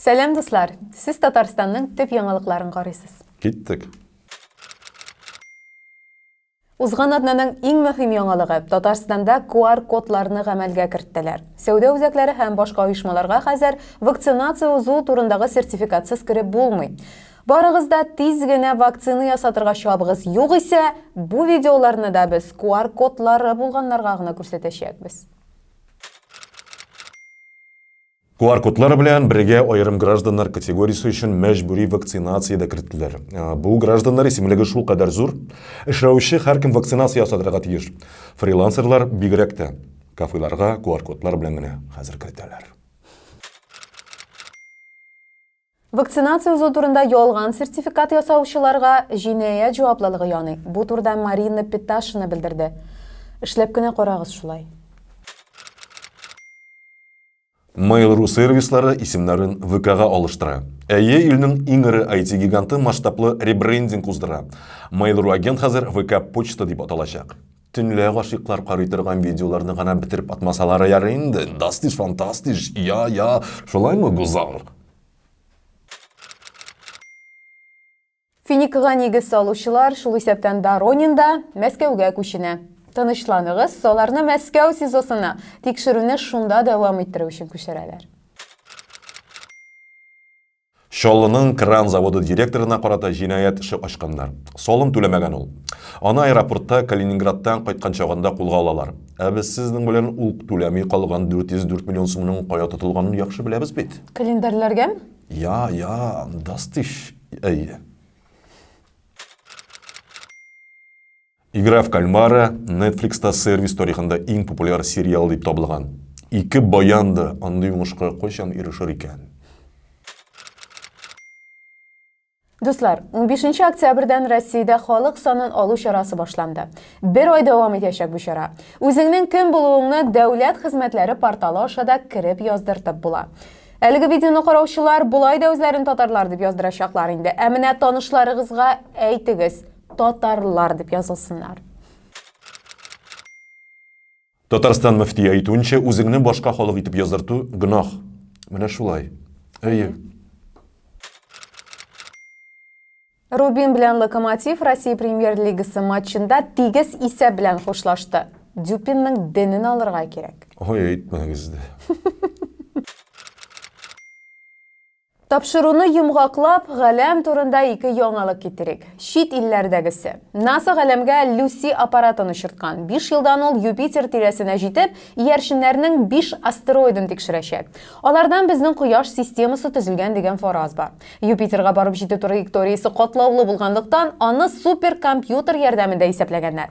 Сәлам дуслар! Сез Татарстанның төп яңалыкларын карыйсыз. Киттек! Узган атнаның иң мөһим яңалыгы, Татарстанда QR-кодларны гамәлгә керттеләр. Сәүдә үзәкләре һәм башка оешмаларга хәзер вакцинация узу турындагы сертификатсыз кереп булмый. Барыгыз да тиз генә вакцина ясатырга чабыгыз, югыйсә, бу видеоларны да без QR-кодлары булганнарга гына күрсәтәчәкбез. QR кодлар белән бергә аерым гражданнар категориясе өчен мәҗбүри вакцинация дә керттеләр. Ә, бу гражданнар исемлеге шул кадәр зур, эшләүче һәркем вакцинация ясатырга тиеш. Фрилансерлар бигрәк тә кафеларга QR кодлар белән генә хәзер кертәләр. Вакцинация узу турында ялган сертификат ясаучыларга җинаять җаваплылыгы яный. Бу турыда Марина Петашина белдерде. Эшләп кенә карагыз шулай. Mail.ru сервислары исемнәрен ВКга алыштыра. Әйе, илнең иң эре IT-гиганты масштаблы ребрендинг уздыра. Mail.ru агент хәзер ВК Почта дип аталачак. Төнлә гашыйклар карый торган видеоларны гына бетереп атмасалары ярый инде. Дастиш, фантастиш, я, я, шулаймы, Гузал? Финикага нигез салучылар, шул исәптән Доронин да Мәскәүгә күченә. Тынычланыгыз, аларны Мәскәү СИЗОсына, тикшерүне шунда дәвам иттерү өчен күчерәләр. Чаллының кран заводы директорына карата җинаять эше ачканнар. Салым түләмәгән ул. Аны аэропортта Калининградтан кайткан чагында кулга алалар. Ә без сезнең белән ул түләми калган 404 миллион сумның кая тотылганын яхшы беләбез бит. Календарьләргәме? Я, я, дастиш, әйе. Игра в кальмара Netflix-та сервис тарихында иң популяр сериал дип табылган. Ике баян да андый уңышка кайчан ирешер икән? Дуслар, 15 октябрьдән Россиядә халык санын алу чарасы башланды. Бер ай дәвам итәчәк бу чара. Үзеңнең кем булуыңны дәүләт хезмәтләре порталы аша да кереп яздыртып була. Әлеге видеоны караучылар болай да үзләрен татарлар дип яздырачаклар инде. Ә менә танышларыгызга әйтегез. Татарлар дип язылсыннар. Татарстан мөфтие әйтүенчә, үзеңне башка халык итеп яздырту гөнаһ. Менә шулай. Әйе. Рубин белән Локомотив Россия премьер-лигасы матчында тигез исәп белән хушлашты. Дюпинның денен алырга кирәк. Ой, әйтмәгез дә. Тапшыруны йомгаклап, галәм турында ике яңалык китерик. Чит илләрдәгесе. НАСА галәмгә Люси аппаратын очырткан. Биш елдан ул Юпитер тирәсенә җитеп, иярченнәрнең биш астероидын тикшерәчәк. Алардан безнең Кояш системасы төзелгән дигән фараз бар. Юпитерга барып җитү траекториясе катлаулы булганлыктан, аны суперкомпьютер ярдәмендә исәпләгәннәр.